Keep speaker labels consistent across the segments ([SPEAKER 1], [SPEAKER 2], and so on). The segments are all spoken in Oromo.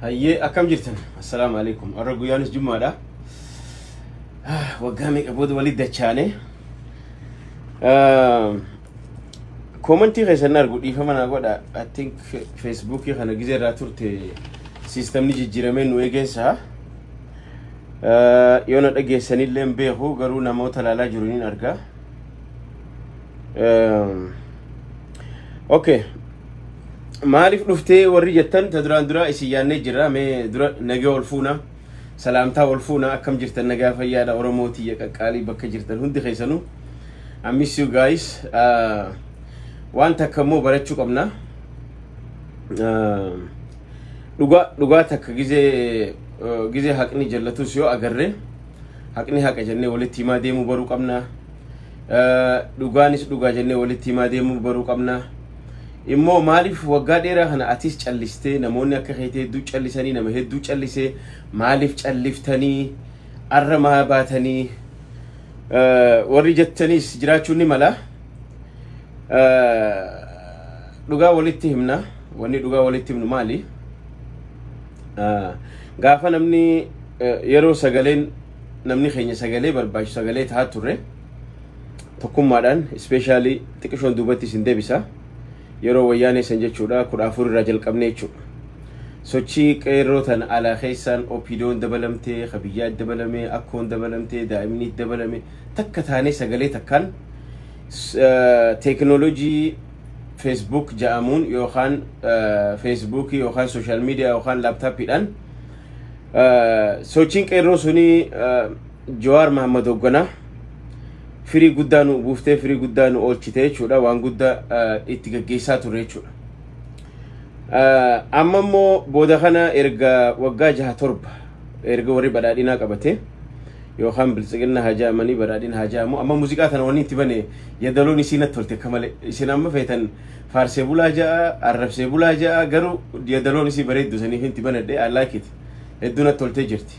[SPEAKER 1] Hayyee
[SPEAKER 2] akkam jirtan assalaamu alaikum har'a guyyaanis jummaadha waggaa meeqa booda walitti dachaane Koomantii keessan argu dhiifama naa godha. I think Feesbuukii kana gizee irraa turte siistamni jijjiiramee nu eegeensa. Yoo na dhageessanillee hin beeku garuu namoota ilaalaa jiru niin arga. Okay. Maaliif dhuftee warri jettan ta duraan duraa isin yaannee jirra mee dura nagee ol fuuna. Salaamtaa wal fuuna akkam jirtan nagaa fayyaadha Oromoo tiyya qaqqaalii bakka jirtan hundi keessanuu. I miss you guys. Uh, waan takka immoo barachuu qabna. Uh, dhugaa dhugaa takka gizee uh, gizee haqni jallatus yoo agarre haqni haqa jennee walitti himaa deemuu baruu qabna. dhugaanis dhugaa jennee walitti himaa deemuu baruu qabna. Immoo maaliif waggaa dheeraa kana atis callistee namoonni akka keetii hedduu callisanii nama hedduu callisee maaliif calliftanii arra maa baatanii warri jettaniis jiraachuun ni mala. Dhugaa walitti himna. Wanni dhugaa walitti himnu maali? Gaafa namni yeroo sagaleen namni keenya sagalee barbaachisu sagalee tahaa turre tokkummaadhaan ispeeshaalii xiqqishoon duubatti isin deebisa yeroo wayyaanee san jechuudha kudha afur irraa jalqabnee jechuudha. Sochii qeerroo tan alaa keessaan opiidoon dabalamtee, kabiyyaa dabalamee, akkoon dabalamtee, daa'imni dabalame takka taanee sagalee takkaan teekinooloojii feesbuuk ja'amuun yookaan feesbuukii yookaan sooshaal miidiyaa yookaan laaptaappiidhaan Sochiin qeerroo sunii Jawaar Mahammad hoogganaa firii guddaa nu buuftee firii guddaa nu oolchite jechuudha waan guddaa itti gaggeessaa ture jechuudha. Amma immoo booda kana erga waggaa jaha torba erga warri badhaadhinaa qabate yookaan biltsiginna haa jaamanii badhaadhina haa jaamu amma muuziqaa tana wanni itti bane yadaloon isiin natti tolte akka malee isin amma feetan Faarsee bulaa ja'a, arrabsee bulaa ja'a garuu yadaloon isii bareeddu saniif inti banadhe I like it. Hedduu natti toltee jirti.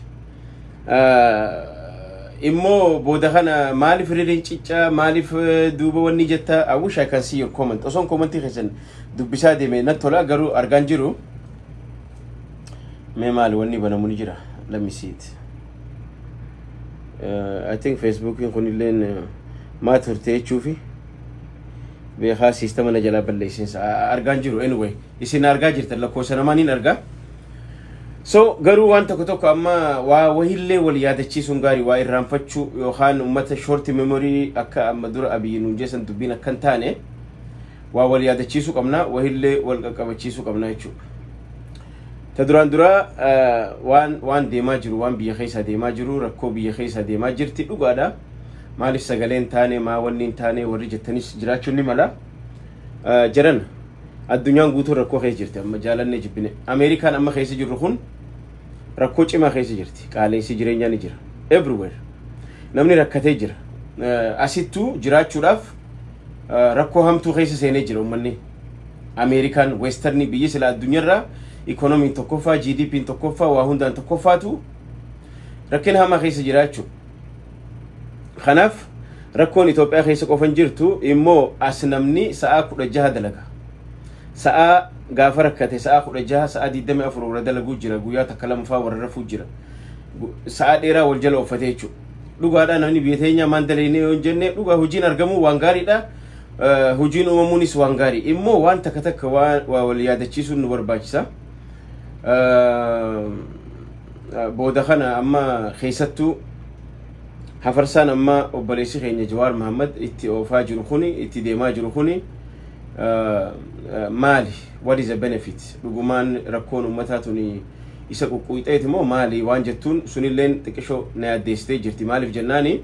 [SPEAKER 2] Immoo booda kana maaliif ririin ciccaa maaliif duuba wanni jetta I wish I can see your comment. Osoon koomantii keessan dubbisaa deeme natti tola garuu argaan jiru. Mee maali wanni banamu ni jira. Let me see it. I think Facebookiin kunilleen maa turte jechuufi. Beekaa siistama na jalaa balleessin argaan jiru anyway isin argaa jirtan lakkoofsa namaa niin argaa. So garuu waan tokko tokko amma waa wahillee wal yaadachiisuun gaarii waa irraanfachuu yookaan uummata shorti memorii akka amma dura abiyyi nuun jeesan dubbiin akka hin taane waa wal yaadachiisuu qabna wahillee wal qaqqabachiisuu qabna jechuudha. Ta duraan duraa waan waan deemaa jiru waan biyya keessaa deemaa jiru rakkoo biyya keessaa deemaa jirti dhugaadha. Maaliif sagaleen taane maa wanni hin taane warri jettanis jiraachuun ni mala. Jaran addunyaan guutuun rakkoo keessa jirti amma jaalannee jibbine. Ameerikaan amma keessa jirru kun rakkoo cimaa keessa jirti. Qaaleensi jireenyaa ni jira. Everywhere. Namni rakkatee jira. Asittuu jiraachuudhaaf rakkoo hamtuu keessa seenee jira uummanni. Ameerikaan weestarnii biyyi sila addunyaarraa ikoonomiin tokkoffaa, GDPn tokkoffaa, waa hundaan tokkoffaatu rakkina hamaa keessa jiraachuu. Kanaaf rakkoon Itoophiyaa keessa qofan jirtu immoo as namni sa'aa kudha jaha dalaga. Sa'aa gaafa rakkate sa'aa kudha jaha sa'aa digdami afur warra dalaguu jira guyyaa takka lamafaa warra rafuu jira. Sa'aa dheeraa wal jala ooffatee jechuudha. Dhugaadhaa namni biyya teenyaa maan dalaynee yoo hin jenne dhugaa hojiin argamuu waan gaariidha. hojiin uumamuunis waan gaarii immoo waan takka takka waa wal yaadachiisuun nu barbaachisa. Booda kana amma keessattuu hafarsaan amma obboleessi keenya Jawaar Mahammad itti oofaa jiru kuni itti deemaa jiru kuni maali? What is the benefit? Dhugumaan rakkoon uummataa tuni isa quqquuxeeti moo maali waan jettuun sunilleen xiqqishoo na yaaddeessitee jirti. Maaliif jennaani?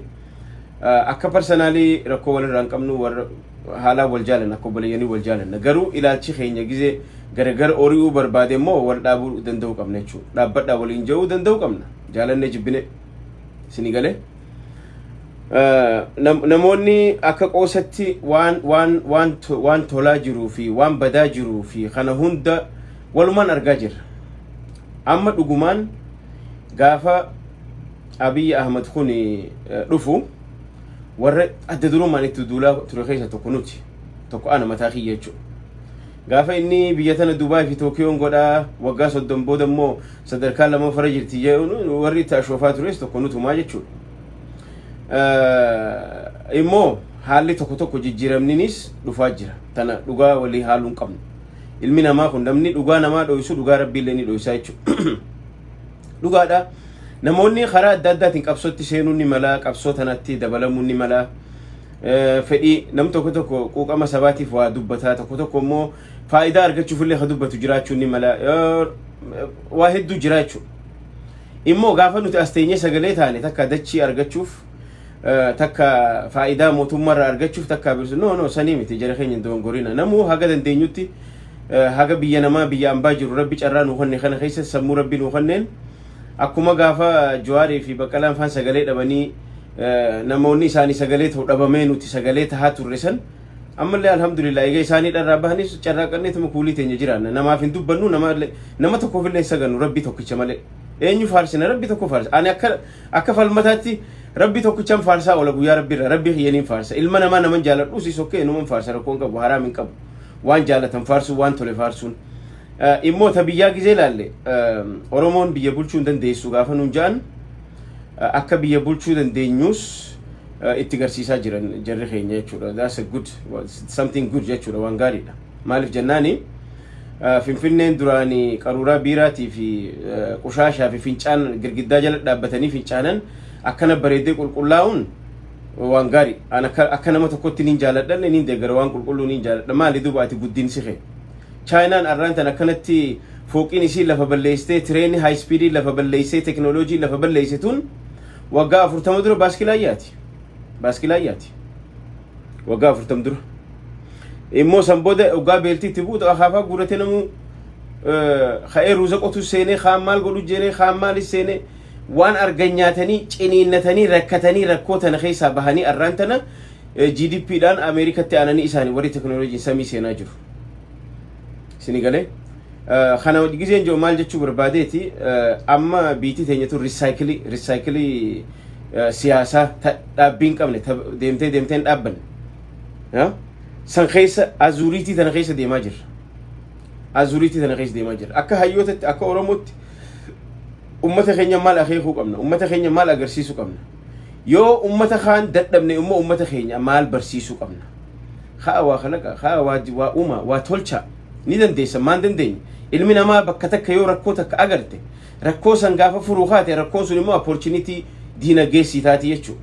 [SPEAKER 2] Akka parsanaalii rakkoo walirraa hin qabnu warra haalaan wal jaalanna akka obboleeyyanii wal jaalanna garuu ilaalchi keenya gizee garagar ori'uu barbaade immoo wal dhaabuu danda'uu qabna jechuudha dhaabbadhaa waliin ja'uu danda'uu qabna jaalannee jibbine isinii galee namoonni akka qoosatti waan waan waan waan tolaa jiruu fi waan badaa jiruu fi kana hunda walumaan argaa jirra amma dhugumaan gaafa Abiy Ahmad kun dhufu warra adda durummaan itti duulaa ture keessa tokko nuti tokko ana mataa kiyya jechuudha. Gaafa inni biyya tana Dubaay fi Tookiyoon godhaa waggaa soddon booda immoo sadarkaa lammaffara jirti jedhuun warri itti ashoofaa tures tokko nutumaa jechuudha. Immoo haalli tokko tokko jijjiiramninis dhufaa jira. Tana dhugaa walii haaluu hin qabnu. Ilmi namaa kun namni dhugaa namaa dho'isu dhugaa rabbiillee ni dho'isaa jechuudha. Dhugaadha. Namoonni karaa adda addaatiin qabsootti seenuun ni mala, qabsoo tanatti dabalamuun ni mala. Fedhii nam tokko tokko quuqama sabaatiif waa dubbataa tokko tokko immoo faayidaa argachuuf illee ka dubbatu jiraachuun ni mala. Waa hedduu jira jechuudha. Immoo gaafa nuti as teenyee sagalee taane takka dachii argachuuf takka faayidaa mootummaa irraa argachuuf takka birsu no no sanii miti jara keenya hin dogongorina namuu haga dandeenyutti haga biyya namaa biyya ambaa jiru rabbi carraa nu kanne kana keessa sammuu rabbi nu kanneen akkuma gaafa jawaarii fi baqqalaan faan sagalee dhabanii namoonni isaanii sagalee ta'u dhabamee nuti sagalee tahaa turre san ammallee alhamdulillah egaa isaanii dharraa bahanis carraaqannee tuma kuulii teenya jiraanna namaaf hin dubbannu nama tokkoof illee hin sagannu rabbi tokkicha malee eenyu faarsina rabbi tokko faarsa ani akka Akka falmataatti Rabbi tokkichan faarsaa oola guyyaa Rabbi irraa Rabbi kiyyaniin faarsa ilma namaa naman jaaladhu si sokkee numan faarsa rakkoon qabu haraam hin qabu waan jaalatan faarsuun waan tole faarsuun immoo ta biyyaa gizee laalle Oromoon biyya bulchuu hin dandeessu gaafa nuun ja'an akka biyya bulchuu dandeenyus itti garsiisaa jiran jarri keenya jechuudha that's a good something good jechuudha waan gaariidha maaliif jennaanii Finfinneen duraan qaruuraa biiraatii fi qushaashaa fi fincaan girgiddaa jala dhaabbatanii fincaanan akkana bareedee qulqullaa'uun waan gaarii. An akka, akka nama tokkotti niin jaaladhan niin deeggara waan qulqulluu niin jaaladha. Maali duuba ati guddinsi kee? Chaayinaan arraan tan akkanatti fooqiin isii lafa balleessitee tireeni haayispiidii lafa balleessee teknooloojii lafa balleessituun waggaa afurtama dura baaskilaa yaati. Baaskilaa yaati. waggaa afurtam dura immoo san booda waggaa beeltii itti buutu akaafaa guurate namuu ka'ee ruuza qotu seenee kaan maal godhu jeenee kaan maalis seenee waan argan nyaatanii ciniinnatanii rakkatanii rakkoo tana keessaa bahanii arraan tana GDP dhaan Ameerikatti aananii isaanii warri teknooloojiin samii seenaa jiru. Sini galee. Kana gizeen jiru maal jechuu barbaadeeti amma biitii teenyatu risaayikilii risaayikilii siyaasaa dhaabbiin qabne deemtee deemteen dhaabbanne. San keessa azuuriitii tana keessa deemaa jirra. Azuuriitii tana keessa deemaa jirra. Akka hayyootatti akka Oromootti ummata keenya maal akeekuu qabna? Ummata keenya maal agarsiisuu qabna? Yoo ummata kaan dadhabne immoo ummata keenya maal barsiisuu qabna? Haa waa kalaqa, haa waa, waa uuma, waa tolcha. Ni dandeessa, maan dandeenye? Ilmi namaa bakka takka yoo rakkoo takka agarte, rakkoo san gaafa furuu kaate, rakkoon sun immoo opportunity diinagdee sii taati jechuudha.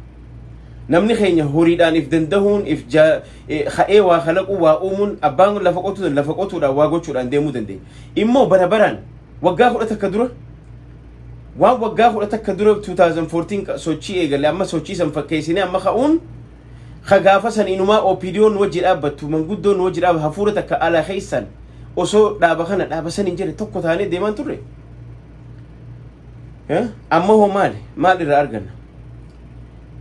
[SPEAKER 2] Namni keenya horiidhaan if dandahuun, if jaa, eh, ka'ee waa kalaquu, waa uumuun, abbaan lafa qotuudhaan, lafa qotuudhaan, waa gochuudhaan deemuu dandeenya. Immoo bara baraan, waggaa kudha takka dura, Waan waggaa kudha takka dura 2014 ka- sochii eegale amma sochii san fakkeessinee amma ka'uun ka gaafa san inumaa OPDO nu wajji dhaabbattu manguddoo nu wajji dhaabbattu hafuura takka ala keessan osoo dhaaba kana dhaaba san hin jedhe tokko taanee deemaan turre. Eh? Amma hoo maali? Maal irraa arganna?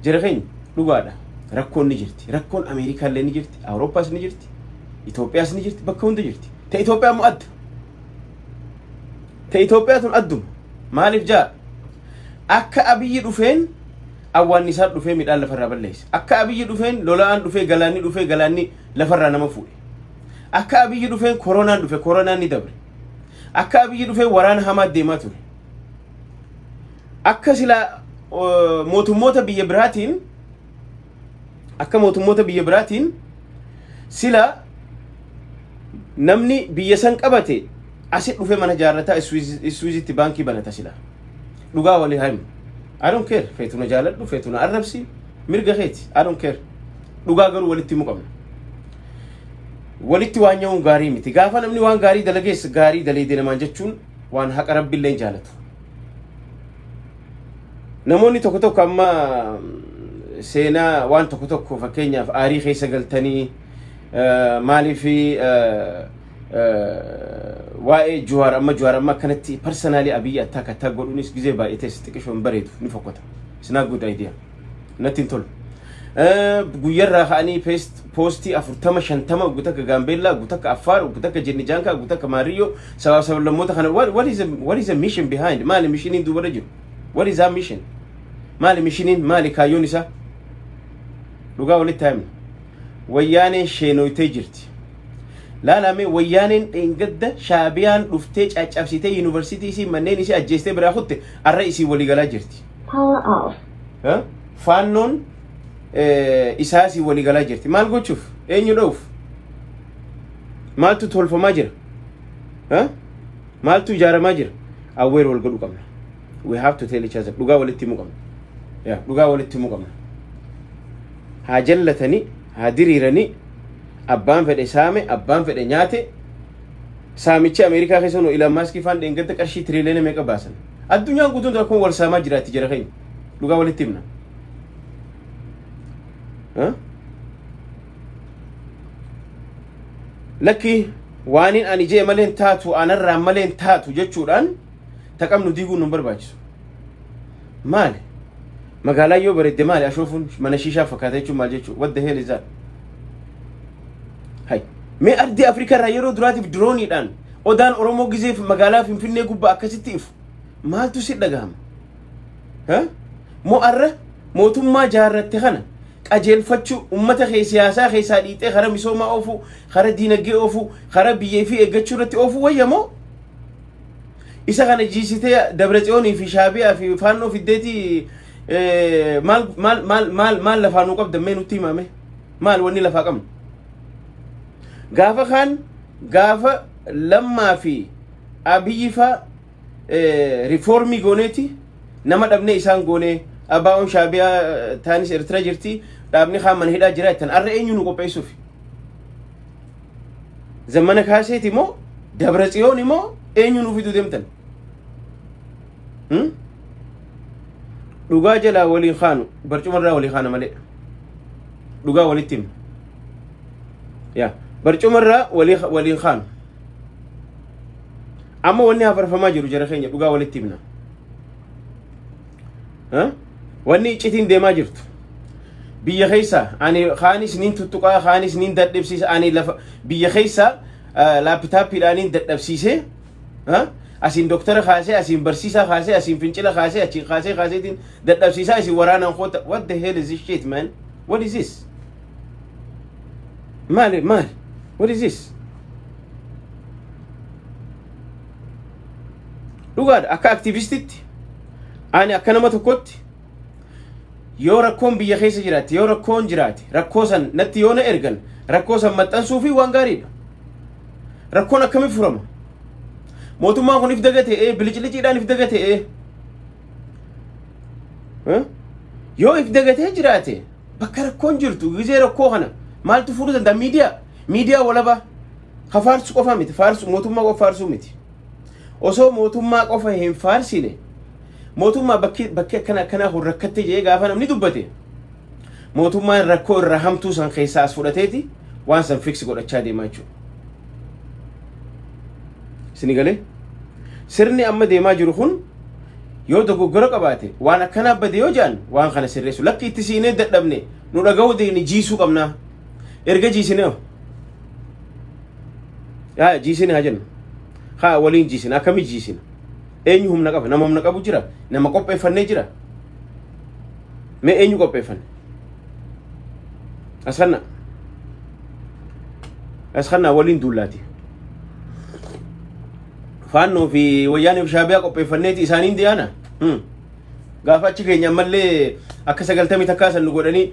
[SPEAKER 2] Jara keenya dhugaadha. Rakkoon ni jirti. Rakkoon Ameerikaallee ni jirti. Awurooppaas ni jirti. Itoophiyaas ni jirti. Bakka hunda jirti. Ta Itoophiyaa immoo adda. Ta Itoophiyaa tun adduma. Maaliif jaa? Akka abiyyi dhufeen awwaannisaan dhufee midhaan lafarraa balleesse. Akka abiyyi dhufeen lola'aan dhufee galaanni dhufee galaanni lafarraa nama fuudhe. Akka abiyyi dhufeen koronaan dhufe koronaan ni dabre. Akka abiyyi dhufeen waraana hamaa deemaa ture. Akka silaa mootummoota biyya biraatiin akka mootummoota biyya biraatiin sila namni biyya san qabate asi dhufe mana jaarrataa iswiizitti baankii banata sila dhugaa walii haimu I don't care feetuna jaaladhu feetuna arrabsi mirga keeti I don't care dhugaa garuu walitti himu qabna walitti waan nyaa'uun gaarii miti gaafa namni waan gaarii dalagees gaarii daleedee namaan jechuun waan haqa rabbiillee jaalatu Namoonni tokko tokko amma seenaa waan tokko tokko fakkeenyaaf aarii keessa galtanii maaliif waa'ee Juwaar amma Juwaar amma akkanatti parsanaalii Abiyyi attaak attaak godhuunis gizee baay'ee teessi xiqqishoon bareedu ni fokkota. It's not good idea. natti hin tolu. Guyyarraa ka'anii poostii afurtama shantama oggu takka Gaambeellaa oggu takka Affaar oggu takka Jenni Jaankaa oggu takka Maariyyoo sabaaf sablammoota kana what is a what is a mission behind maali mishiniin duubarra jiru what is that mission maali mishiniin maali kaayyoon isaa dhugaa walitti haamne wayyaaneen sheenoytee jirti. Laalamee wayyaaneen dheengadda shaabiyaan dhuftee caccabsitee yuunivarsiitii isii manneen isii ajjeestee biraa kutte arra isii waliigalaa jirti. Power
[SPEAKER 3] off. Eh? Faannoon
[SPEAKER 2] eh, isaasii walii galaa jirti. Maal gochuuf? Eenyu dha'uuf? Maaltu tolfamaa jira? Eh? Maaltu ijaaramaa jira? Awweer wal godhu qabna. We have to tell each other. Dhugaa walitti himuu qabna. Yeah, Dhugaa walitti himuu qabna. Haa jallatanii, haa diriiranii, abbaan fedhe saame, abbaan fedhe nyaate, saamichi Ameerikaa keessa nu Ilaan Maaskii faan dheengadda qarshii tiriiliyoona meeqa baasan? Addunyaan guutuun rakkoon wal saamaa jiraatti jara keenya. Dhugaa walitti himna. Huh? Lakki waaniin ani jee maleen taatu anarraa maleen taatu jechuudhaan taqamnu diiguun nun barbaachisu. Maali? Magaalaa yoo bareedde maali ashoofuun mana shiishaa fakkaata jechuun maal jechuudha? What the hell is that? Hay. Mee ardii Afrikaa irraa yeroo duraatiif dirooniidhaan odaan Oromoo gizeef magaalaa Finfinnee gubbaa akkasitti ifu. Maaltu si dhagahama? Ha? Moo arra mootummaa jaarratte kana qajeelfachuu uummata kee siyaasaa keessaa dhiixee karaa misoomaa oofuu, karaa diinagdee oofuu, karaa biyya fi eeggachuu irratti oofuu wayya moo? Isa kana jiisitee Dabretsiyoonii fi Shaabiyaa fi Faannoo fiddeetii eh, maal maal maal maal maal lafaa nuu qabdan mee nutti himame? maal wanni lafaa qabnu gaafa kaan gaafa lammaa fi abiyyi faa eh, rifoormii gooneeti nama dhabnee isaan goonee abaa'oon shaabiyaa eh, taanis ertira jirti dhaabni kaan mana hidhaa jira jettan arra eenyu nu qopheessuuf zammana kaaseeti moo dabra tsiyoon moo eenyu nu fiduu deemtan Hmm? Dhugaa jalaa waliin kaanu barcuma irraa walii kaana malee. Dhugaa walitti himna. Yaa barcuma irraa walii waliin kaanu. Amma wanni hafarfamaa jiru jara keenya dhugaa walitti himna. Haa? Wanni iccitiin deemaa jirtu. Biyya keessa ani kaanis niin tuttuqaa kaanis niin dadhabsiisa ani lafa biyya keessa laapitaappiidhaan niin dadhabsiisee asiin doktara kaasee asiin barsiisaa kaasee asiin fincila kaasee achiin kaasee kaaseetiin dadhabsiisaa isin waraanaan koota what the hell is this shit man what is this maali maali what is this dhugaadha akka aktivistitti ani akka nama tokkotti yoo rakkoon biyya keessa jiraate yoo rakkoon jiraate rakkoo san natti yoo na ergan rakkoo san maxxansuu fi waan gaariidha rakkoon akkamiin furama mootummaan kun if daga ta'ee biliciliciidhaan if daga ta'ee Eh? yoo if dagatee jiraate bakka rakkoon jirtu gizee rakkoo kana maaltu furuu danda'a miidiyaa miidiyaa walabaa ka faarsu qofa miti faarsu mootummaa qofa faarsuu miti osoo mootummaa qofa hin faarsine mootummaa bakki bakki akkana akkanaa kun rakkatte jedhee gaafa namni dubbate mootummaan rakkoo irraa hamtuu san keessaa as fudhateeti waan san fiksi godhachaa deemaa jechuudha. Isin galee sirni amma deemaa jiru kun yoo dogoggora qabaate waan akkanaa bade yoo jedhan waan kana sirreessu lakki itti siinee dadhabne nu dhaga'uu deemne jiisuu qabnaa. erga jiisine hoo yaa jiisine haa jennu haa waliin jiisine akkamii jiisine eenyu humna qaba nama humna qabu jira nama qopheeffannee jira mee eenyu qopheeffanne askanna askanna waliin duullaati faannoo fi wayyaanee fi shaabiyaa qopheeffanneeti isaaniin diyaana gaafa achi keenya ammallee akka sagaltamii takkaa san nu godhanii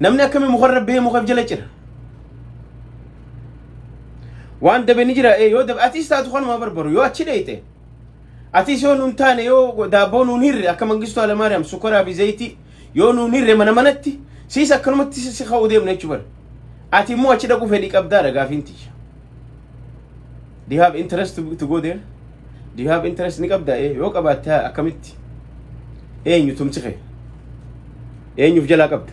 [SPEAKER 2] namni akkami mukarra bee mukaf jala cira waan dabe ni jira yoo dabe atis taatu kanuma barbaru yoo achi dheeyte atis yoo nuun taane yoo daabboo nuun hirre akka mangistuu alamaariyaam sukaraa fi zayitii yoo nuun hirre mana manatti siis akkanumatti si ka'uu deemna jechuu bara ati immoo achi dhaquu fedhii qabdaa dhagaafiin tiyya do you have interest to, to go there Do you have interest ni qabda? Ee, yoo qabaatte haa akkamitti? Eenyu tumsi kee? Eenyuuf jalaa qabda?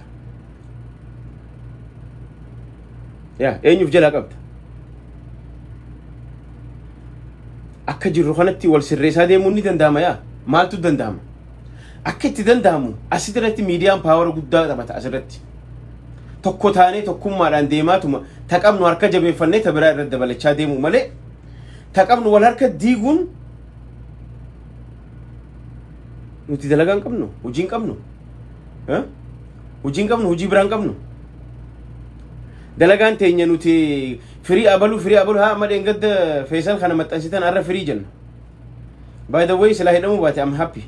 [SPEAKER 2] Yaa, eenyuuf jalaa qabda? Akka jirru kanatti wal sirreessaa deemuun ni danda'ama yaa? Maaltu danda'ama? Akka itti danda'amu asirratti miidiyaan paawara guddaa taphata asirratti. Tokko taanee tokkummaadhaan deemaatuma ta qabnu harka jabeeffannee ta biraa irra dabalachaa deemuu malee Ta qabnu wal harka diiguun nuti dalagaa hin qabnu, hojii hin qabnu. Eh? Hojii hin qabnu, hojii biraa hin qabnu. Dalagaan teenya nuti firii abaluu, firii abaluu haa amma dheengadda feesan kana maxxansitan har'a firii jenna. By the way, silaa hidhamuu baate I'm happy.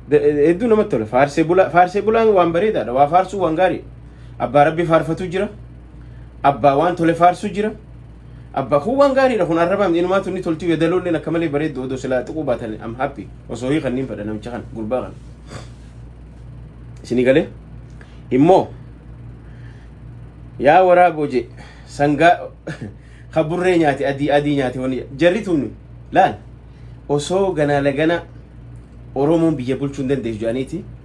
[SPEAKER 2] Da- Hedduu namatti tola. Faarsee bulaa, faarsee bulaan waan bareedaadha. Waa faarsuu waan gaarii. Abbaa rabbii faarfatu jira. Abbaa waan tole faarsu jira. Abbaa kun waan gaariidha kun arrabaan inumaa tunni toltii wedaloolleen akka malee bareeddu odoo silaa xiquu baatan am happy osoo hii kanniin fedha namicha kana gurbaa kana. Isinii galee immoo yaa waraa boje sangaa kaburree nyaate adii adii nyaate wani jarri tunni laal osoo ganaa laganaa Oromoon biyya bulchuu hin dandeessu jedhaniiti.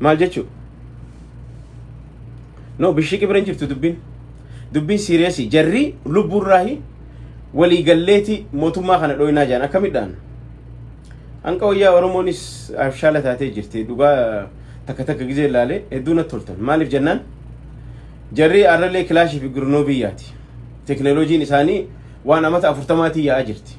[SPEAKER 2] maal jechuu no bishiqi bira hin jirtu dubbiin dubbiin siiriyasii jarrii lubbuurraahi walii galleeti mootummaa kana dhooynaa jedhan akkamidhaan hanqa wayyaa oromoonis abshaala taatee jirti dhugaa takka takka gizee ilaalee hedduu natti toltan maaliif jennaan jarrii arralee kilaashii fi gurnoo biyyaati teknolojiin isaanii waan amata afurtamaatii yaa'aa jirti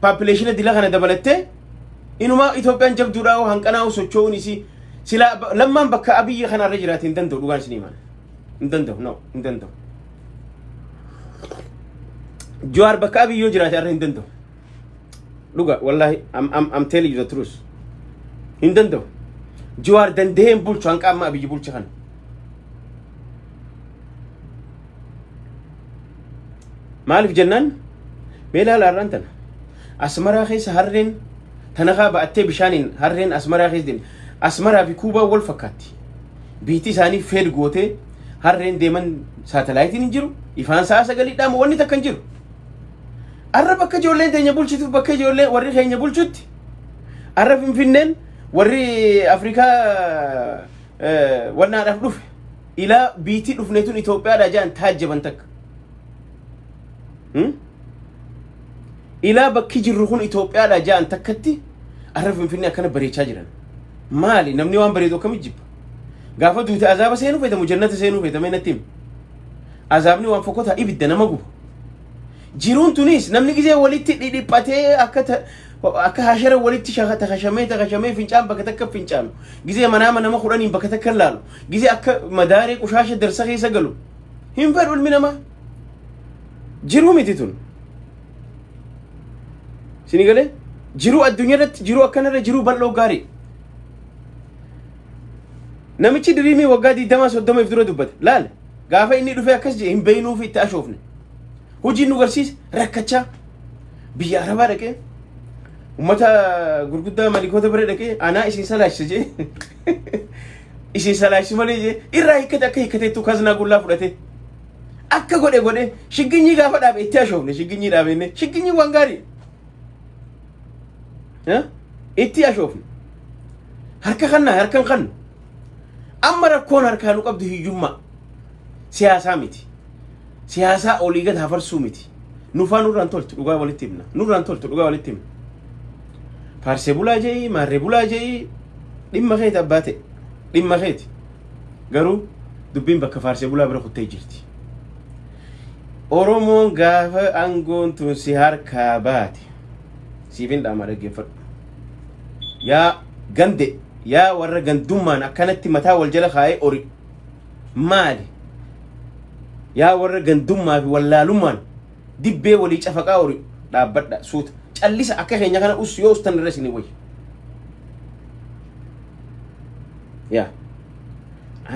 [SPEAKER 2] paapileeshina dila kana dabalattee inumaa Itoophiyaan jabduudhaa hoo hanqanaa hoo socho'uun isii silaa ba- lammaan bakka abiyyi kanarra jiraate hin danda'u dhugaan isinii mana hin danda'u no hin danda'u Jawaar bakka abiyyi yoo jiraate arra hin danda'u dhuga wallahi am am am telling you the truth hin danda'u Jawaar danda'ee hin bulchu hanqa amma abiyyi bulcha kana Maaliif jennaan mee laala har'aan tana. Asmaraa keessa harreen tanakaa ba'attee bishaaniin harreen asmaraa keessa deemte. Asmaraa fi kuubaa wal fakkaatti. Biitti isaanii feed gootee harreen deeman saatalaayitiin hin jiru. Ifaan sa'a sagalidhaama wanni takka hin jiru. Arra bakka ijoolleen teenya bulchituuf bakka ijoollee warri keenya bulchutti arra finfinneen warri Afrikaa wannaadhaaf dhufe. ila biitii dhufne tun Itoophiyaadha jedhan taajjaban takka. Hmm? Ilaa bakki jirru kun Itoophiyaadha jedhan takkatti arra Finfinnee akkana bareechaa jiran. Maali namni waan bareedu akkamitti jibba? Gaafa duute azaaba seenuu feetamu jannata seenuu feetame natti himi. Azaabni waan fokkota ibidda nama guba. Jiruun tunis namni gisee walitti dhidhiphatee akka ta- akka hashara walitti shaka- takashamee takashamee fincaan bakka takka fincaanu gisee manaa manama kudhaniin bakka takka laalu Gise akka madaaree qushaasha darsa keessa galu hin fedhu ilmi namaa. Jiruu miti tun. Sini galee jiruu addunyaa irratti jiruu akkanarra jiruu bal'oo gaarii. Namichi diriimii waggaa 20 30 dura dubbate laal gaafa inni dhufee akkas jedhe hin beeynuu fi itti ashoofne. Hojiin nu garsiise rakkachaa biyya arabaa dhaqee ummata gurguddaa malikoota bira dhaqee anaa isin salaachisa jedhe. isin salaachisu malee jee irraa hiikkate akka hiikkateettu kaznaa gullaa fudhate akka godhe godhe shigginyii gaafa dhaabe itti ashoofne shigginyii dhaabenne shigginyii waan gaarii Eh? itti ashoofne harka kanna harkan kannu amma rakkoon harkaa nu qabdu hiyyummaa siyaasaa miti siyaasaa olii gad hafarsuu miti. Nufaa nurraan toltu dhugaa walitti himna. Nurraan toltu dhugaa walitti himna. Faarsee bulaa je'ii, maarree bulaa je'ii dhimma keeti abbaa ta'e. Dhimma keeti. Garuu dubbiin bakka faarsee bulaa bira kuttee jirti. Oromoon gaafa aangoon tun si harkaa baate siif hin dhaama dhaggeeffadhu. Yaa gande yaa warra gandummaan akkanatti mataa wal jala kaa'ee ori maali yaa warra gandummaa fi wallaalummaan dibbee walii cafaqaa ori dhaabbadha suuta callisa akka keenya kana us yoo ustan irra isinii wayya yaa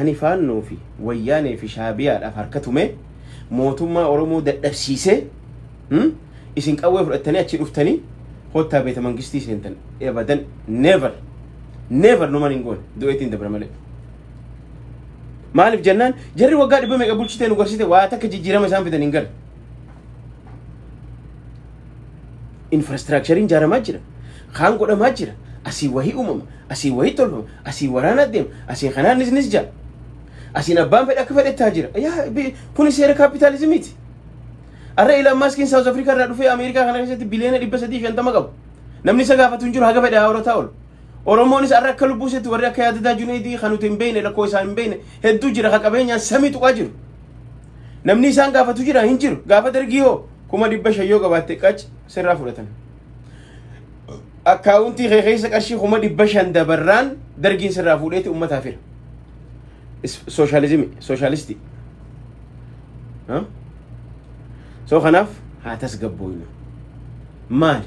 [SPEAKER 2] ani faannoo fi wayyaanee fi shaabiyaadhaaf harka tumee mootummaa oromoo dadhabsiisee hmm? isin qawwee fudhattanii achi dhuftanii kottaa beeta mangistii seentan ebadan never never numan hin goone du'eetiin dabra malee Maaliif jennaan jarri waggaa dhibba meeqa bulchitee nu garsite waa takka jijjiirama isaan fidan hin galu. Infraastiraakchariin jaaramaa jira. Kaan godhamaa jira. Asii wahii uumama. Asii wahii tolfama. Asii waraana deema. Asii kanaan nis nis jaa. Asiin abbaan fedhe akka fedhe taa jira. Yaa bi- kuni seera kaapitaalizimiiti. Arra Ilaan Maaskiin Saawuz Afrikaa irraa dhufee Ameerikaa kana keessatti biliyoona dhibba sadii fi shantama qabu. Namni isa gaafatu hin jiru haga fedhe haa horataa oolu. Oromoonis har'a akka lubbuu isheetti warri akka yaadadaa Juneedii kan nuti hin beekne lakkoo isaa hin beekne hedduu jira ka qabeenyaan samii tuqaa jiru. Namni isaan gaafatu jira hin jiru. Gaafa dargii hoo kuma dhibba shan yoo qabaatte qac sirraa fudhatan. Akkaawuntii kee keessa qarshii kuma dhibba shan dabarraan dargiin sirraa fuudheeti uummataa fira. Sooshaalizimii, sooshaalistii. So kanaaf haa tasgabbooynu. Maali?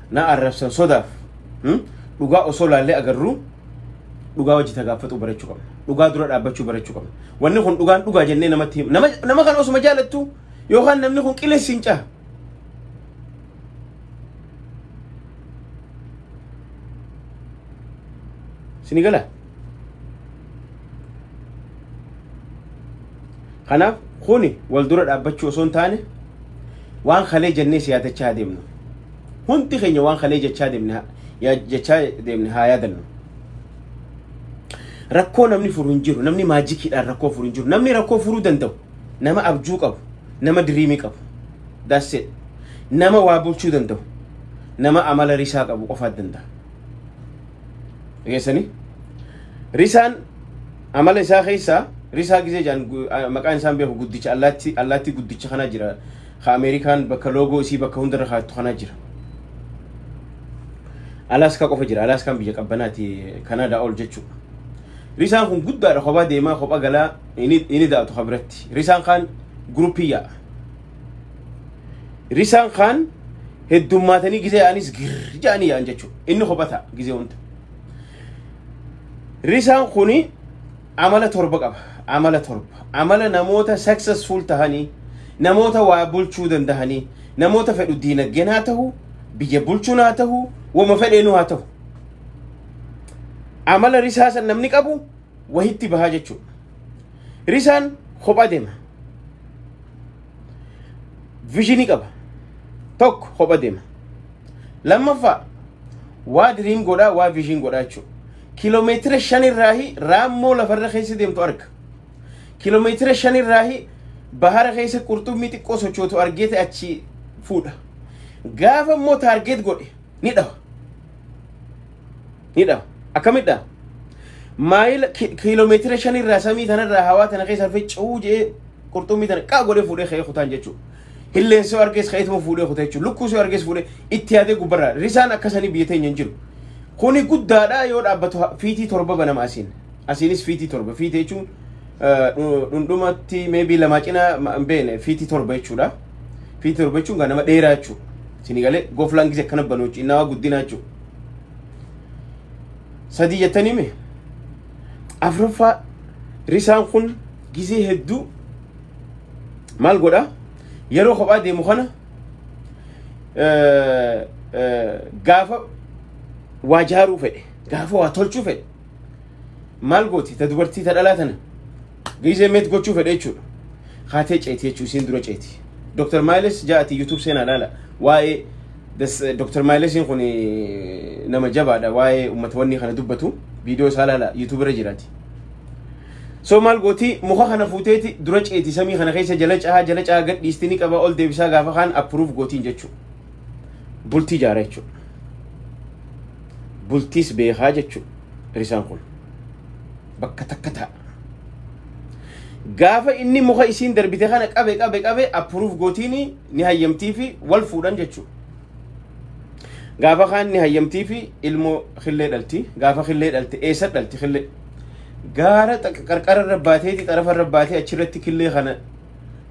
[SPEAKER 2] Na arrabsan sodaaf hmm? dhugaa osoo laallee agarruu dhugaa wajji tagaaffatuu barachuu qabna. Dhugaa dura dhaabbachuu barachuu qabna. Wanni kun dhugaan dhugaa jennee namatti him- nama, nama kana osuma jaalattu yookaan namni kun qilessi hin caha. Sini gala. Kanaaf kuni wal dura dhaabbachuu osoo hin taane waan kalee jennee siyaadachaa adeemnu. Hundi keenya waan kalee jechaa deemne haa- yaa- jechaa deemne haa yaadannu. Rakkoo namni furu hin jiru. Namni maajikiidhaan rakkoo furu hin jiru. Namni rakkoo furuu danda'u nama abjuu qabu, nama diriimii qabu. That's it. Nama waa bulchuu danda'u, nama amala risaa qabu qofaat danda'a. Dhageessanii? Risaan amala isaa keessaa risaa gisee jedhan gu- a- maqaan isaan beeku guddicha allaatti allaatti guddicha kana jira ka Ameerikaan bakka loogoo isii bakka hundarra kaattu kanaa jira. Alaaskaa qofa jira. Alaaskaan biyya qabbanaati Kanaadaa ol jechuudha. Risaan kun guddaadha kophaa deemaa kophaa galaa inni daatu ka biratti. Risaan kaan guruppii yaa'a. Risaan kaan heddummaatanii gizee yaa'anis girr ja'anii yaa'an jechuudha. Inni kophaa ta'a gizee hunda. Risaan kuni Amala torba qaba. Amala torba. Amala namoota successful tahanii, namoota waa bulchuu dandahanii, namoota fedhu diinagdeen haa tahu, biyya bulchuun haa tahu, wama fedheenuu haa tahu. Amala risaa san namni qabu wahitti bahaa jechuudha. Risaan kopha deema. Vizhinii qaba. Tokko kopha deema. Lammaffaa waa diriim godhaa, waa vizhiin godhaa jechuudha. kilomeetira shan irraahi raammoo lafarra keessa deemtu arga. Kilomeetira shan irraahi bahara keessa qurxummii xiqqoo sochootu argee ta'e achi fuudha. Gaafa immoo taargeet godhe ni dhawa. Ni dhawa. Akkamit dhawa? Maayila kilomeetira shan irraa samii tanarraa hawaa tana keessa harfee cuu jee qurxummii tana qaa godhee fuudhee ka'ee kutaan jechuudha. Hilleen soo argees ka'eetuma fuudhee kuta jechuudha. Lukkuu soo argees fuudhee itti yaadee gubbarraa. Risaan akkasanii biyya teenya hin jiru. Kuni guddaadha yoo dhaabbatu ha- fiitii torba banama asiin. Asiinis fiitii torba. Fiitii jechuun eh, dhu- dhundhumatti meebii lamaa cina ma- hin beekne fiitii torba jechuudha. Fiitii torba jechuun kan nama dheeraa jechuudha. Isin galee goflaan gisee akkana banuu jechuudha. Innaa waa guddinaa jechuudha. Sadii jettanii mee? Afraffaa risaan kun gisee hedduu maal godha yeroo kophaa deemu kana gaafa waa jaaruu fedhe gaafa waa tolchuu fedhe maal gooti ta dubartii ta dhalaa tana giizee meet gochuu fedhe jechuudha kaatee ceeti jechuu isiin dura ceeti Dr. Maayiles ja'ati YouTube seenaa laala waa'ee Dr. Maayilesiin kun nama jabaadha waa'ee uummatawwan kana dubbatu viidiyoo isaa laala YouTube irra jiraati. So maal gooti muka kana fuuteeti dura ceeti samii kana keessa jala cahaa jala cahaa gad dhiisti ni qaba ol deebisaa gaafa kaan approve gootiin jechuu. Bultii jaara jechuu. Bultiis beekaa jechuu risaan kun. Bakka takka ta'a. Gaafa inni muka isiin darbite kana qabe qabe qabe approve gootiin ni hayyamtii fi wal fuudhan jechuu. Gaafa kaan ni hayyamtii fi ilmoo killee dhalti. Gaafa killee dhalte eessa dhalti killee? gaara xaq- qarqara irra baateeti xarafa irra baatee achirratti killee kana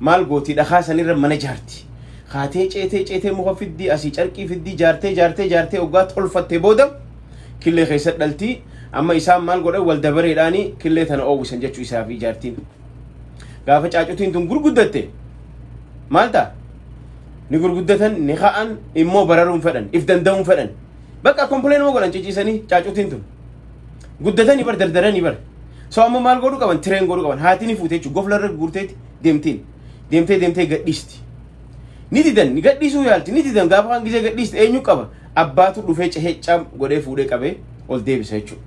[SPEAKER 2] maal gooti dhakaa sanirra mana ijaarti kaatee ceetee ceetee muka fiddii asii carqii fiddii jaartee jaartee jaartee oggaa tolfattee booda killee keessa dhaltii amma isaan maal godhan wal dabareedhaani killee tana oowwisan jechuu isaa fi jaartiin gaafa caacutiin tun gurguddatte maal ta'a ni gurguddatan ni ka'an immoo bararuun fedhan if danda'uun fedhan bakka kompileen moo godhan ciciisanii caacutiin tun Guddatanii bar dardaranii bar. So amma maal godhu qaban tireen godhu qaban haati ni fuute jechuudha gofla irra guurteeti deemtiin deemtee deemtee gadhiisti. Ni didan ni gadhiisuu yaalti ni didan gaafa kan gisee gadhiisti eenyu qaba abbaatu dhufee cehee cam godhee fuudhee qabee ol deebisa jechuudha.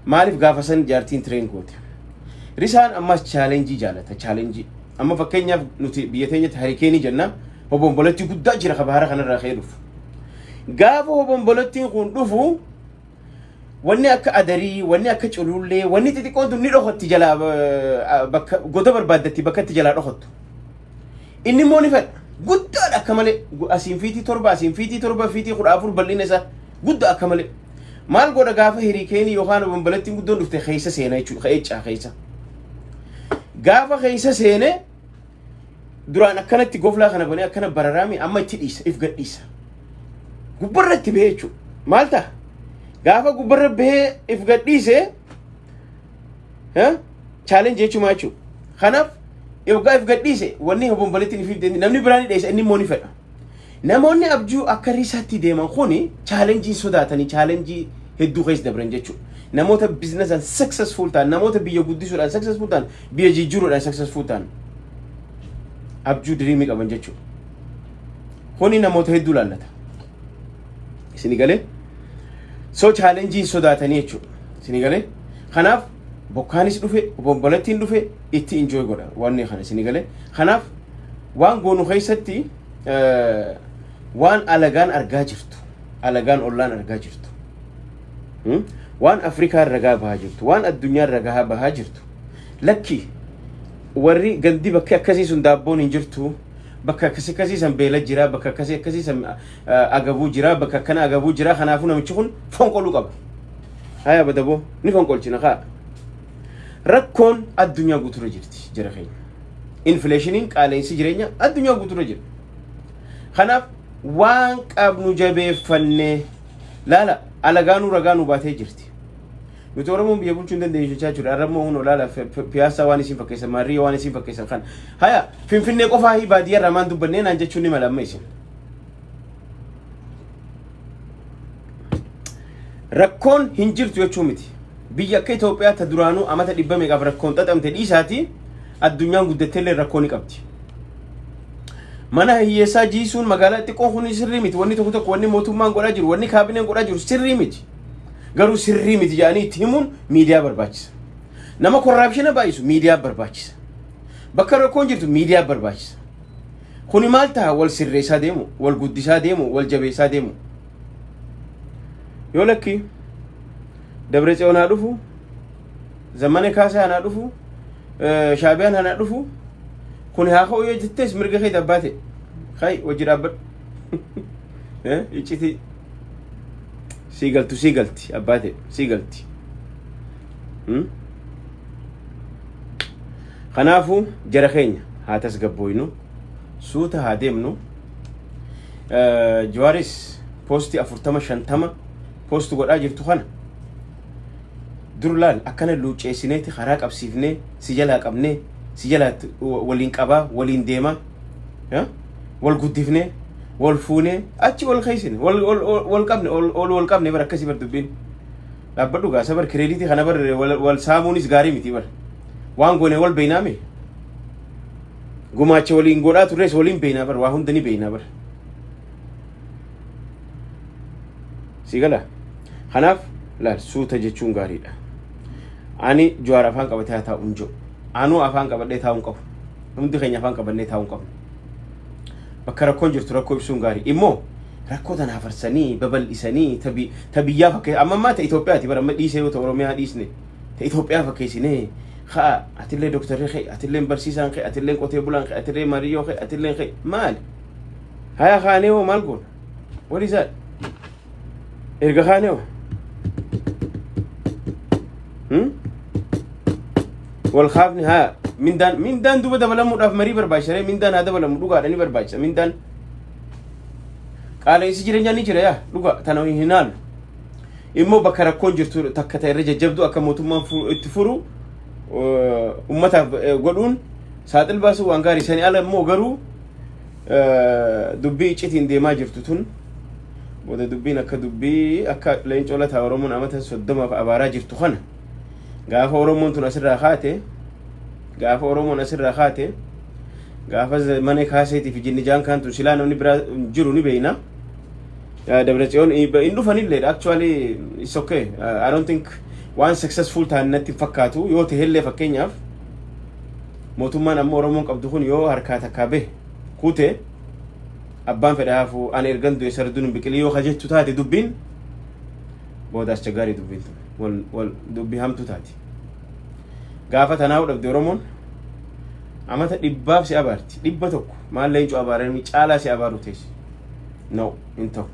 [SPEAKER 2] Maaliif gaafa san jaartiin tireen goote. Risaan ammas chaalenjii jaalata chaalenjii. Amma fakkeenyaaf nuti biyya teenyatti harikeenii jenna hobomboletti guddaa jira ka bahara kanarraa ka'ee dhufu. Gaafa hobombolettiin kun dhufu Wanni akka adarii, wanni akka culuullee, wanni xixiqqoon tun ni dhokotti jalaa eh, bakka goda barbaaddatti bakka itti jalaa dhokottu. Inni immoo ni fedha. Guddaadha akka malee. Gu- Asiin fiitii torba, asiin fiitii torba, fiitii kudha afur bal'ina isaa guddaa akka malee. Maal godha gaafa hiriikeenii yookaan obomboleettiin guddoon dhufte keessa seena jechuudha. Keessa keessa. Gaafa keessa seenee duraan akkanatti goflaa kana banee akkana bararaami amma itti dhiisa if gadhiisa gubbarra itti bahee jechuudha maal ta'a gaafa gubbarra bahee if gadhiise chaalenji jechuumaa jechuudha kanaaf yoggaa if gadhiise wanni hobomboleetti ni fiigde namni biraa ni dheessa inni immoo ni fedha Namoonni abjuu akka risaatti deeman kuni challenge hin sodaatanii challenge hedduu keessa dabran jechuudha. Namoota business and successful ta'an, namoota biyya guddisuudhaan successful ta'an, biyya jijjiiruudhaan successful ta'an abjuu diriimii qaban jechuudha. Kuni namoota hedduu laallata. Isin galee? So challenge hin sodaatanii jechuudha. Isin galee? Kanaaf bokkaanis dhufe, obombolettiin dhufe itti enjoy godha wanni kana isin galee? Kanaaf waan goonu keessatti waan alagaan argaa jirtu alagaan ollaan argaa jirtu waan afrikaa ragaa bahaa jirtu waan addunyaa ragaa bahaa jirtu lakki warri gandi bakka akkasii sun daabboon hin jirtu bakka akkasii akkasii san beela jira bakka akkasii akkasii san agabuu jira bakka akkana agabuu jira kanaafuu namichi kun fonqoluu qaba haya badaboo ni fonqolchina kaa rakkoon addunyaa guuturra jirti jira keenya Infileeshiniin qaala'insi jireenya addunyaa guutuurra jira. Kanaaf waan qabnu jabeeffannee laala alagaanuu ragaa nu baatee jirti. Nuti Oromoon biyya bulchuu hin dandeenyu jechaa jirra. Har'a immoo hunoo laala fi- fi- piyaasaa waan isin fakkeessan maarriyyoo waan isin fakkeessan kan. Haya finfinnee qofaa fi baadiyyaa irraa maan dubbannee naan jechuun ni mala amma isin. Rakkoon hin jirtu jechuu miti. Biyya akka Itoophiyaa ta duraanuu amata dhibba meeqaaf rakkoon xaxamte dhiisaati addunyaan guddatteellee rakkoo ni qabdi. Mana hiyyeessaa jiisuun magaalaa xiqqoo kun sirrii miti. Wanni tokko tokko wanni mootummaan godhaa jiru, wanni kaabineen godhaa jiru sirrii miti. Garuu sirrii miti jedhanii itti himuun miidiyaa barbaachisa. Nama korraapshina baay'isu miidiyaa barbaachisa. Bakka rakkoon jirtu miidiyaa barbaachisa. Kuni maal taha wal sirreessaa deemu, wal guddisaa deemu, wal jabeessaa deemu. Yoo lakki Dabre Tsiyoon haa dhufu, Zammane Kaasaa anaa dhufu, Shaabiyaan anaa dhufu, kuni haa ka'u yoo jettees mirga kee dabbaa ta'e. Kai wajji dhaabbadhu. Iccitii sii galtu sii galti abbaa ta'e sii galti. Kanaafuu jara keenya haa tasgabbooynu suuta haa deemnu. Jawaaris poostii afurtama shantama poostu godhaa jirtu kana dur laal akkana luucceessineeti karaa qabsiifnee si jalaa qabnee si jalaa waliin qabaa waliin deemaa wal guddifnee wal fuunee achi wal keessine wal qabne ol wal qabne bara akkasii bar dubbiin. Dhaabbadhu gaasa bar kireeditii kana bar wal saamuunis gaarii miti bar. Waan goone wal beeynaa mee? Gumaacha waliin godhaa turres waliin beeynaa bar waa hunda ni beeynaa bar. Si gala? Kanaaf laal suuta jechuun gaariidha. Ani Jawaar afaan qabatee haa taa'u hin jiru. Anuu afaan qabadhee taa'uu hin qabu. Hundi keenya afaan qabannee taa'uu hin qabnu. Bakka rakkoon jirtu rakkoo ibsuun gaari. Immoo rakkoo tana hafarsanii babal'isanii ta bi- ta biyyaa fakkeessa. Amma ammaa ta Itoophiyaati bara amma dhiisee yoo ta Oromiyaa dhiisne ta Itoophiyaa fakkeessinee ka'a atillee doktarri kee atilleen barsiisaan kee atilleen qotee bulaan kee atillee maariyyoo kee atilleen kee maali? Haya kaanee hoo maal goona? What is that? Erga kaanee hoo? Hmm? Wal kaafni haa mindaan mindaan duuba dabalamuudhaaf marii barbaachisaree mindaan haa dabalamu dhugaadha ni barbaachisa mindaan qaala'insi jireenyaa ni jira yaa dhugaa tana hin haalu. Immoo bakka rakkoon jirtu takka ta'e irra jajjabdu akka mootummaan fu- itti furu eh, ummataaf eh, godhuun saaxil baasuu waan gaarii sanii ala immoo garuu Dubbii iccitiin deemaa jirtu tun booda dubbiin akka dubbii akka leencoo lataa Oromoon amata soddomaaf abaaraa jirtu kana gaafa Oromoon tun asirraa kaate gaafa Oromoon asirraa kaate gaafa mana kaaseetii fi jinni jaankaan tun silaa namni biraa jiru ni beeyna. Dabretsiyoon hin dhufanillee actually it's okay I don't think waan successful ta'an natti hin fakkaatu yoo ta'ellee fakkeenyaaf Mootummaan amma Oromoon qabdu kun yoo harkaa takkaa bahe kute abbaan fedha hafu ani ergan du'e sarduun hin biqilii yoo ka jettu taate dubbiin booda aschagaarii dubbiin tun wal wal dubbii hamtuu taati. Gaafa tanaa'uu dhabde Oromoon amata dhibbaaf si abaarti dhibba tokko maal leencoo abaaranii caalaa si abaaruu teessi. No hin ta'u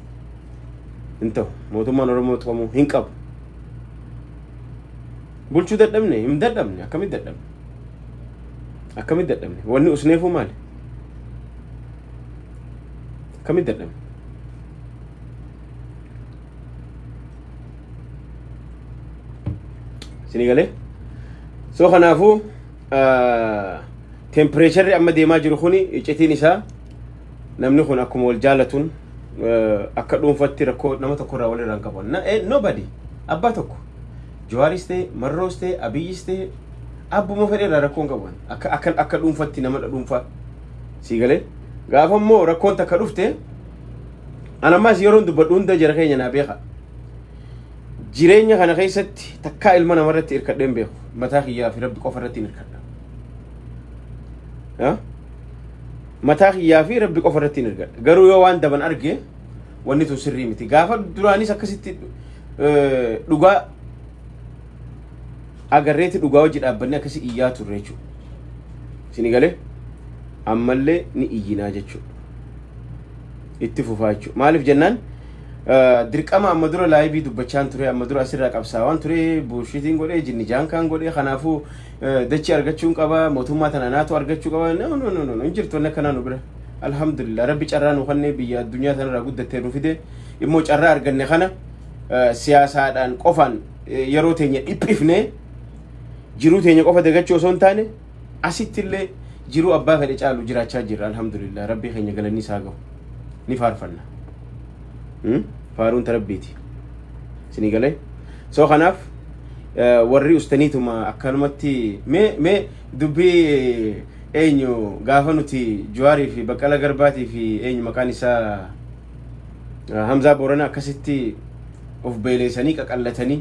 [SPEAKER 2] hin ta'u mootummaan Oromoo tuqamuu hin qabu. Bulchuu dadhabne hin dadhabne akkamitti dadhabne akkamitti dadhabne wanni usneefuu maali akkamitti dadhabne isinii galee soo kanaafuu tempireecharri amma deemaa jiru kun iccitiin isaa namni kun akkuma wal jaalatuun akka dhuunfatti rakkoo nama tokkorraa walirraa hin qabu. Nobody abbaa tokko Jawaaris ta'e, Marroos ta'e, Abiyyis ta'e abbuma fedhe irraa rakkoon qabu kan akka akka akka dhuunfatti nama dhuunfaa sii galee gaafa immoo rakkoon takka dhufte an ammaas yeroon dubbadhu hunda jara keenya naa beeka jireenya kana keessatti takkaa ilma namarratti hirkadhee hin beeku mataa kiyyaa fi rabbi qofa irratti hin hirkadha Ha? mataa kiyyaa fi rabbi qofa irratti hin hirkadha garuu yoo waan daban arge wanni tun sirrii miti gaafa duraanis akkasitti dhugaa agarreeti dhugaa hojii dhaabbanni akkasii iyyaa turre jechuudha. Isin galee ammallee ni iyyinaa jechuudha. Itti fufaa jechuudha. Maaliif jennaan dirqama amma dura laayivii dubbachaan ture amma dura asirraa qabsaawaan ture buushitiin godhee jinni jaankaan godhee kanaafuu dachii argachuun qaba mootummaa tana naatu argachuu qaba no no no no hin jirtu wanni akkanaa nu bira alhamdulillah rabbi carraa nu kannee biyya addunyaa tanarraa guddattee nu fidee immoo carraa arganne kana siyaasaadhaan qofaan yeroo teenya dhiphifnee jiruu teenya qofa dagachuu osoo hin taane asitti illee jiruu abbaa fedhe caalu jiraachaa jirra alhamdulillah rabbii keenya galanni isaa gahu ni faarfanna faaruun ta rabbiiti isinii galee soo kanaaf warri ustaniituma akkanumatti mee mee dubbii eenyu gaafa nuti juwaarii fi baqqala garbaatii fi eenyu maqaan isaa Hamzaa Boorana akkasitti of beeleessanii qaqallatanii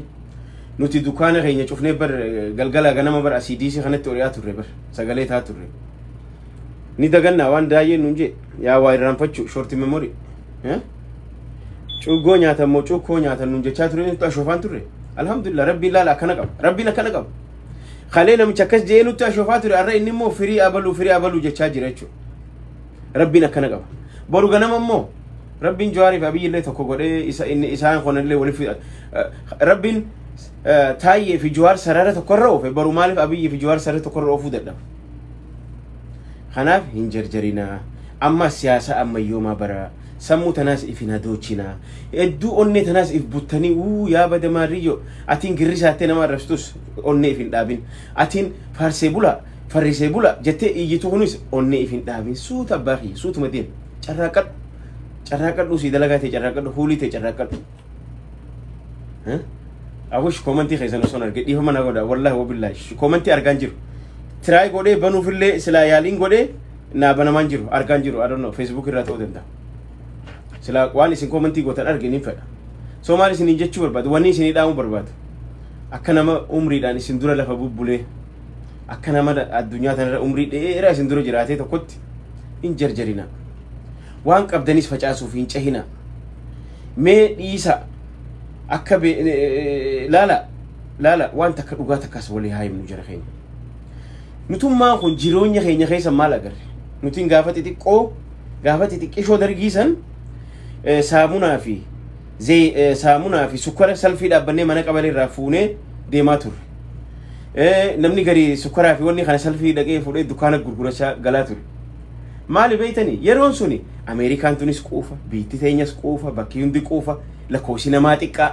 [SPEAKER 2] nuti dukaana keenya cufnee bar galgala ganama bar asii diisii kanatti ori'aa turre bar sagalee taa turre. Ni dagannaa waan daayeen nuun jee yaa waa irraanfachuu shorti memorii. Cuggoo nyaatan moo cuukkoo nyaatan nuun jechaa turre nutti ashoofaan turre. Alhamdulillah rabbiin laala akkana qaba rabbiin akkana qaba. Kalee namicha akkas jee nutti ashoofaa ture arra inni immoo firii abaluu firii abaluu jechaa jira jechuudha. Rabbiin akkana qaba. Boru ganama immoo Rabbiin Jawaarii fi Abiyyi illee tokko godhee isa inni isaan kun illee waliif eh, Rabbiin eh, Taayyee fi Jawaar sarara tokko irra oofe boru maaliif Abiyyi fi Jawaar sarara tokko irra oofuu dadhaba. Kanaaf hin jarjarinaa. Amma siyaasa ammayyoomaa bara sammuu tanaas if hin hadoochinaa. Hedduu onnee tanaas if buttanii uu yaa bada maarriyyoo atiin girrisaattee nama arrabsitus onnee if hin dhaabin. Atiin faarsee bulaa Farrisee bula jettee iyyitu kunis onnee if hin dhaabin suuta abbaa kiyya suutuma deem carraaqqadhu carraaqqadhu sii dalagaa ta'e carraaqqadhu huulii ta'e carraaqqadhu. Abush koomantii keessan osoo arge dhiifama na godha wallahi wabillaahi koomantii argaan jiru tiraay godhee banuufillee silaa yaaliin godhee naa banamaan jiru argaan jiru adonno feesbuuk irraa ta'uu danda'a. Silaa waan isin koomantii gootan arge niin fedha. Soo maal isiniin jechuu barbaadu wanni isinii dhaamuu barbaadu akka nama umriidhaan isin dura lafa bubbulee. akka nama addunyaa tanarra umrii dheeraa isin dura jiraatee tokkotti hin jarjarina waan qabdanis facaasuuf hin cehina mee dhiisa akka be- eh, eh, laala laala waan takka dhugaa takkas walii haa himnu jara keenya nutummaan kun jireenya keenya keessa maal agarre nutiin gaafa xixiqqoo gaafa xixiqqishoo dargiisan eh, saamunaa fi Zey- eh, saamunaa fi sukkara salfii dhaabbannee mana qabalee irraa fuunee deemaa turre. Eh, Namni gari sukkaraa fi wanni kana salfii dhaqee fuudhee dukkaana gurgurachaa galaa ture. Maali beeytanii? Yeroon suni Ameerikaan tunis quufa, biitti teenyas quufa, bakki hundi quufa, lakkoofsi namaa xiqqaa.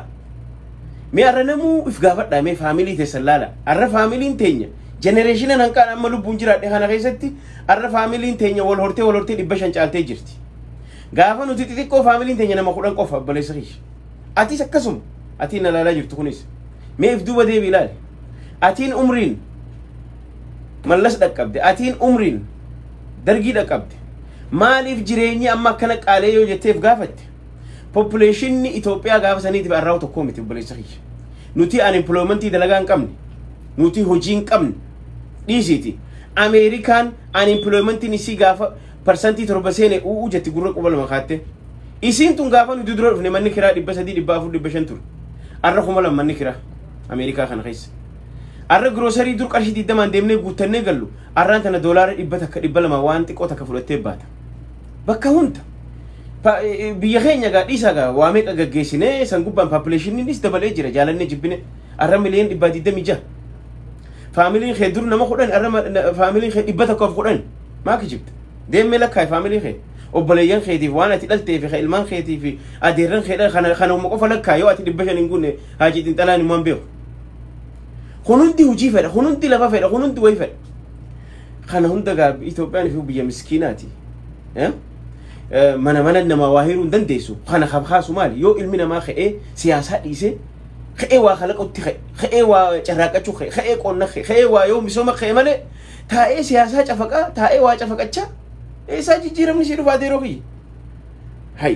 [SPEAKER 2] Mee har'a namuu if gaafadhaa mee faamilii teessan laala. Har'a faamiliin teenya jenereeshina hanqaan amma lubbuun jiraadhe kana keessatti har'a faamiliin teenya wal hortee wal hortee dhibba shan caaltee jirti. Gaafa nuti xixiqqoo faamiliin teenya nama kudhan qofa obboleessa kiyya. Atis akkasuma atiin na ilaalaa jirtu kunis. Mee if duuba deebi ilaali. Atiin umriin mallas dhaqqabde atiin umriin dargii dhaqqabde maaliif jireenyi amma akkana qaalee yoo jetteef gaafatte poppileeshinni Itoophiyaa gaafa saniitiif arraawu tokkoo miti obboleessa kiyya. Nuti unemploymentii dalagaa hin qabne nuti hojii hin qabne dhiisiiti Ameerikaan unemploymentiin isii gaafa parsantii torba seene u'uu jetti gurra quba lama kaatte. Isiin tun gaafa nu dudura dhufne manni kiraa dhibba sadii dhibba afur dhibba shan ture. Arra kuma lama manni kiraa Ameerikaa kana keessa. Arra giroosarii dur qarshii digdamaan deemnee guuttannee gallu arraan tana doolaara dhibba takka dhibba lama waan xiqqoo takka fudhattee baata. Bakka hunda. Pa- e- e- Biyya keenya gaa dhiisaa gaa waa meeqa gaggeessinee san gubbaan paapuleeshiniinis dabalee jira jaalannee jibbine arra miliyoon dhibbaa digdamii jaha. Faamiliin kee dur nama kudhan arra ma- na- faamiliin kee dhibba tokkoof kudhan. maa kijibda deemmee lakkaa'e faamilii kee obboleeyyan keetiif waan ati dhaltee fi ka ilmaan keetii fi adeerran kee dhala kana kana qofa lakkaa yoo ati dhibba shan hin guunne haajii xinxalaan immoo hin beeku kun hundi hojii fedha kun hundi lafa fedha kun hundi wayi fedha kana hunda gaa Itoophiyaan fi biyya miskiinaati Eh? Eh, mana mana namaa waa hiruu hin dandeessu kana kan kaasu maali yoo ilmi namaa ka'ee siyaasaa dhiisee ka'ee waa kalaqutti ka'e ka'ee waa carraaqqachuu ka'e ka'ee qonna ka'e ka'ee waa yoo misooma ka'e malee Taa'ee siyaasaa cafaqaa, taa'ee waa cafaqachaa, eessaa jijjiiramni sii dhufaatee yeroo kiyya. Hay.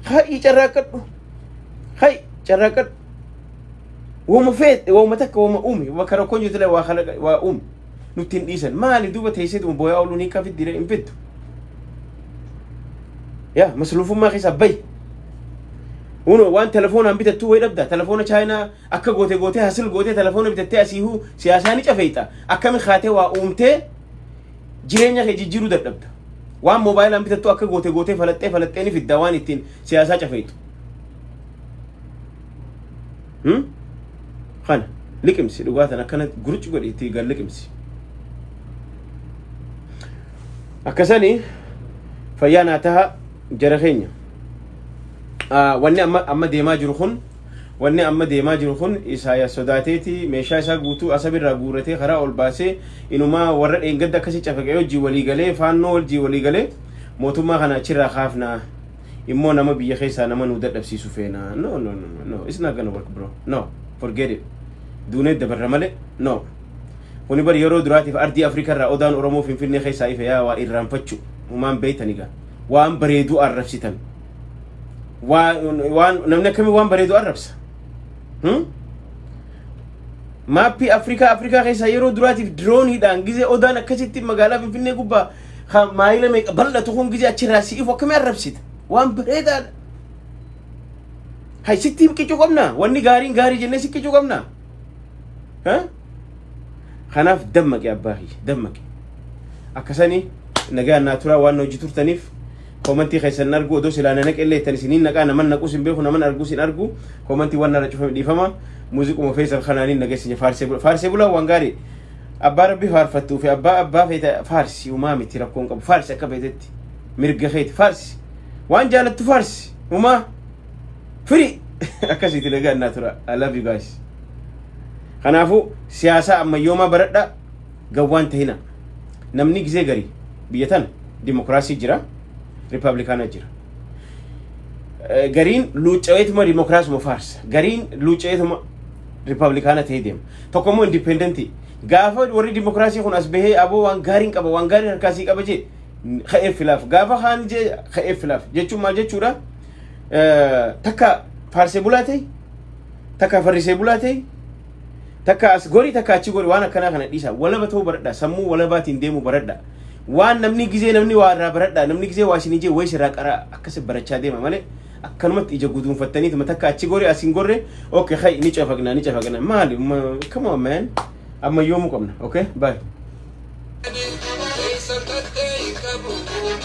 [SPEAKER 2] Hay carraaqqadhu. Hay carraaqqadhu. Woma feet, woma takka woma uumi, bakka rakkoon jirtu illee waa kalaqa, waa uumi. Nutti hin dhiisan. Maali duuba teesseetuma booyaa ooluun hiikaa fiddi hin fiddu. Yaa masluufummaa keessaa bayi. Uno waan telefoonaan bitattuu wayi dhabdaa, telefoona chaayinaa Akka goote gootee hasil gootee telefoona bitattee asiihuu siyaasaa ni cafeeyta. Akkami kaatee waa uumtee jireenya kee jijjiiruu dadhabda. Waan moobaayilaan bitattu akka goote gootee falaxxee falaxxee ni fidda waan ittiin siyaasaa cafeeytu. Hmm? Kana liqimsi dhugaa tan akkana gurucci godhi itti gad liqimsi. Akkasani fayyaa naa taha jara keenya. Ah, Wanni amma amma deemaa jiru kun Wanni amma deemaa jiru kun Isaayaas sodaateeti meeshaa isaa guutuu Asab irraa guurratee karaa ol baasee inumaa warra dheengadda akkasi cafaqee wajjin walii galee faannoo wajjin walii galee mootummaa kana achirraa kaafna immoo nama biyya keessaa nama nuu dadhabsiisu feena no no no no no it's not gonna work bro no forget it duunee dabarra malee no kuni bari yeroo duraatiif ardii Afrikaa irraa odaan Oromoo Finfinnee keessaa ife yaa waa irraanfachu humaan beeytaniga waan bareeduu arrabsitan waan namni akkamii waan bareedu arrabsa maappii afrikaa afrikaa keessaa yeroo duraatiif dirooniidhaan gizee odaan akkasitti magaalaa finfinnee gubbaa maayila meeqa bal'atu kun gizee achirraa si'ifu akkamii arrabsita waan bareedaadha hay sitti qicu qabna wanni gaariin gaarii jennee si qicu qabna kanaaf dammaqe abbaa kiyya dammaqe akkasanii nagaa naa turaa waan hojii turtaniif Commenti keessan hin argu odoo silaa na naqellee ittan isiniin naqaa naman naqus hin beeku naman argus hin argu commenti waan narra cufame dhiifama muuziquma feesal kanaanin nagessinya faarsee bula faarsee bulaa waan gaarii abbaa rabbi faarfattuu fi abbaa abbaa feeta faarsi umaa miti rakkoon qabu faarsi akka feetetti mirga keeti faarsi waan jaalattu faarsi umaa firii akkasiiti nagaan naa tura I love you guys kanaafuu siyaasaa ammayyoomaa baradha Gawwaan tahina. Namni gizee gari biyya tana dimokiraasii jira, ripablikaana jira. Eh, Gariin luucca'eetuma dimokiraasuma faarsa. Gariin luucca'eetuma ripablikaana ta'ee deema. Tokko immoo indipendentii. Gaafa warri dimokiraasii kun as bahee aboo waan gaariin qaba, waan gaariin harkaasii qaba jee ka'ee filaaf. Gaafa kaan jee ka'ee filaaf. Jechuun maal jechuudha? Eh, Takka faarsee bulaa ta'e, takka farrisee bulaa ta'e, Takka as gorii takka achi gorii waan akkanaa kana dhiisaa. Walaba ta'uu baradhaa. Sammuu walabaatiin deemuu baradhaa. Waan namni gizee namni waa irraa baradhaa. Namni gizee waa isin ijee wayis irraa qaraa akkas barachaa deema malee akkanumatti ija guduunfattanii tuma takka achi goree as hin gorre okay hay ni cafaqnaa ni cafaqnaa maali ma- come on man amma yoomuu qabna okay bye. Eessa tattee hin qabu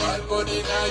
[SPEAKER 2] maal godhinaa